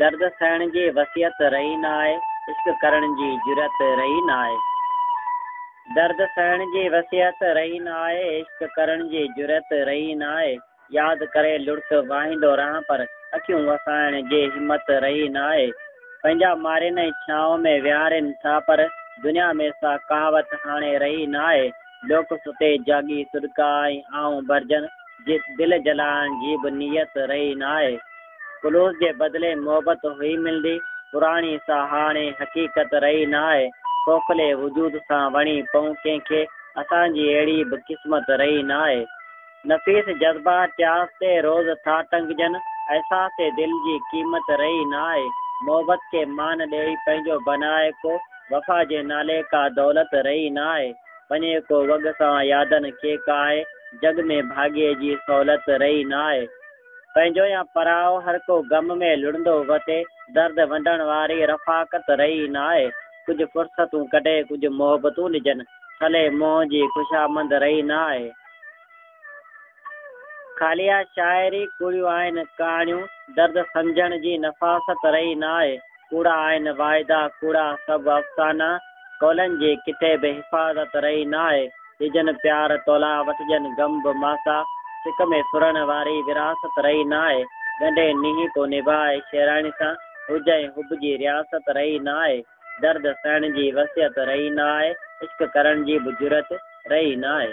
درد سهڻ جي وسعت رهي ناهي، عشق ڪرڻ جي جرئت رهي ناهي. درد سهڻ جي وسعت رهي ناهي، عشق ڪرڻ جي جرئت رهي ناهي. ياد ڪري لڙڪ واهيندو رهان پر اکيون وسائڻ جي همت رهي نه آهي. پنهنجا مارين ۽ ڇانو ۾ ويهارين ٿا پر دنيا ۾ سا ڪهاوت هاڻي رهي نه آهي. لوڪ ستي جاڳي سڏڪا ۽ آئون ڀرجن جي دل جلائڻ جي به نيت رهي نه آهي. خلوص جي بدلي محبت هئي ملندي پراڻي سا هاڻي حقيقت رهي نه آهي. کوکلي وجود سان وڻي پئون ڪنهن کي اسان جي اهڙي به قسمت رهي نه آهي. نفيس جذبا چاس تي روز ٿا ٽنگجن، احساس دل جي قيمت رهي ناهي، محبت کي مان ڏيئي پنهنجو بنائي ڪو، وفا جي نالي ڪا دولت رهي ناهي، وڃي ڪو وڳ سان يادن کي ڪاهي، جڳ ۾ ڀاڳي جي سهولت رهي ناهي، پنهنجو يا پرايو هر ڪو غم ۾ لڙندو وتي، درد ونڊڻ واري رفاقت رهي ناهي، ڪجهه فرصتون ڪڍي ڪجهه محبتون ڏجن، ڇلي منهن جي خوشامند رهي ناهي. خاليه شاعري ڪوڙيون آهن ڪهاڻيون درد سمجهڻ جي نفاست رهي نه آهي ڪوڙا آهن واعدا ڪوڙا سڀ افسانا قولن جي ڪٿي به حفاظت رهي نه آهي ڏجن پيار تولاء وٺجن غم به ماسا سڪ ۾ سرڻ واري وراثت رهي نه آهي ڳنڍي نينهن ڪو نڀائي شيراڻي سان هج ۽ حب جي رياست رهي نه آهي. درد سهڻ جي وسعت رهي نه آهي، عشق ڪرڻ جي به جرئت رهي نه آهي.